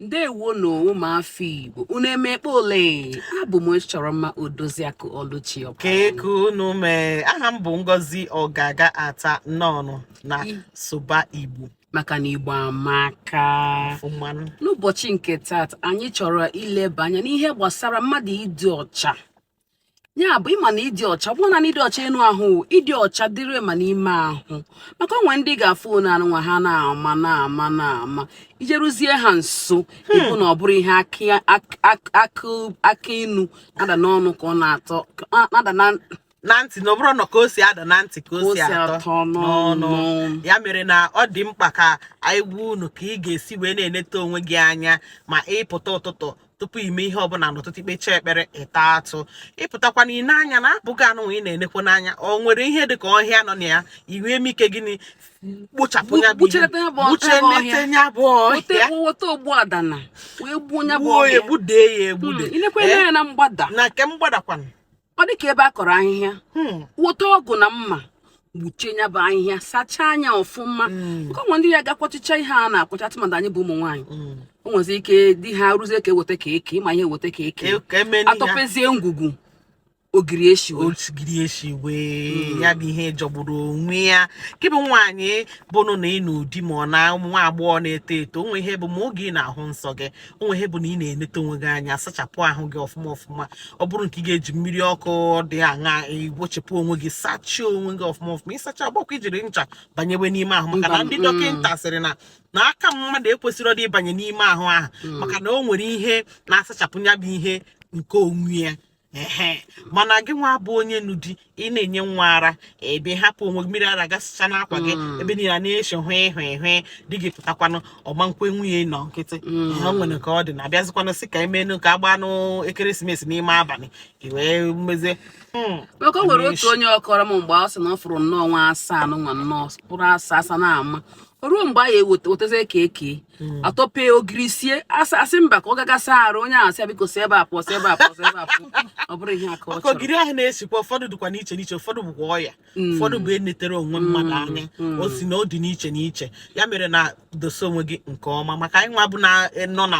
ndewo nụ ụmụafọ igbo unu emekpe ole abụ m chọrọ mma odoziakụ ọlụchi kee ka unu mee aha m bụ ngozi ọgaga ata nnọọnụ na sụba igbo maka na igbo amaka n'ụbọchị nke taata anyị chọrọ ileba anya n'ihe gbasara mmadụ ịdị ọcha ya bụ ịma na ịdị ọcha ọ bụrọ naanị ịdị ọcha enu ahụ ịdị ọcha dịrị ma n'ime ahụ maka o nwe ndị ga-afụ onu anụnwa ha na-ama na-ama na-ama i jeruzie ha nso hmm. ị hụ na ọ bụrọ ihe akị inu na-ada n'ọnụ ka ọ na-atọ ada na na ntị na ọ bụrọ na ka o si ada na ntị ka o si atọ n'ọnụ ya mere na ọ dị mkpa ka anyị gwa unu ka ị ga-esi wee na-eneta onwe gị anya ma ị pụta ụtụtụ tupu i mee ihe ọbụla n'ụtụtụ i kpechaa ekpere ị taa atụ ị pụtakwanụ i lee anya n'abụ gị anụnwa ị na-enekwu n'anya o nwere ihe dị ka ọhịa nọ na ya i wee mee ike gịnị kpochapụ ya bụ ihe buchenete ya bụ ọhịa weta ogbu adana wee gbuo ya bụ ọhịa egbudee ya egbude hmm, i lekwaa ya eh? na mgbada na nke mgbadakwana ọ dị ka ebe a kọrọ ahịhịa hmm. weta ọgụ na mma gbuchie ya bụ ahịhịa sachaa nya ọfụma hmm. maka o nwe ndị a ga-akwachicha ihe a na-akwacha tụmadị anyị bụ ụmụ nwaanyị hmm. o nwezi ike di ha ruzie ka e weta ka e kee ị ma ihe e weta ka e kee e, a tọpezie ngwugwu ogiri eshiwe ogiri eshiwe ya bụ ihe jọgburu onwe ya gị bụ nwaanyị bụnụ na ị nụ di ma ọ na nwa agbọghọ na-eto eto o nwe ihe bụ ma oge ị na-ahụ nsọ gị o nwe ihe bụ na ị na-enete onwe gị anya sachapụ ahụ gị ọfụma ọfụma ọ bụrụ nke ị ga-eji mmiri ọkụ dị aṅa wụchipụ onwe gị sachie onwe gị ọfụma ọfụma ị sachaa agbakwa i jiri ncha banyewe n'ime ahụ maka na ndị mm. dọkịta sịrị na na aka mmadụ ekwesịrọdị ịbanye n'ime ahụ ahụ mm. maka na o nwere ihe na-asachapụ ya bụ ihe nke onwe ya ehe mana gị nwa bụ onye nụ di ị na-enye nwa ara ị bịa hapụ onwe mmiri ara gasịcha n'akwa gị hmm. ebe niile na-esi hụ ịhụ ịhụ di gị pụtakwanụ ọ gbakwa nwunye nọ nkịtị hmm. ha nwere ka ọ dị na a bịazikwanụ sị ka e meenụ ka a gbaanụ ekeresimesi n'ime abalị i wee mezie hmm. maka o nwere otu onye ọ kọrọ m mgbe ọ sị na ọ fụrụ nnọọ nwa asa nwa nnọọ bụrụ asa asa na-ama ruo mgbe a ya-ewetazie ka e kee hmm. a tọpee ogiri esie a sị a sị mba ka ọ ga ga saa arụ onye ahụ asị biko si ebe a pụọ si ebe a pụọ si ebe a pụọ ọ bụrọ ihe a ka ọ chọrọ ogiri ahụ na-esikwa ụfọdụ dịkwa n'iche n'iche ụfọdụ bụkwa ọya hmm. ụfọdụ bụ eneterọ onwe hmm. mmadụ anya o si na ọ dị n'iche n'iche ya mere na dosa onwe gị nke ọma maka anyị nwa bụ na e, nọ na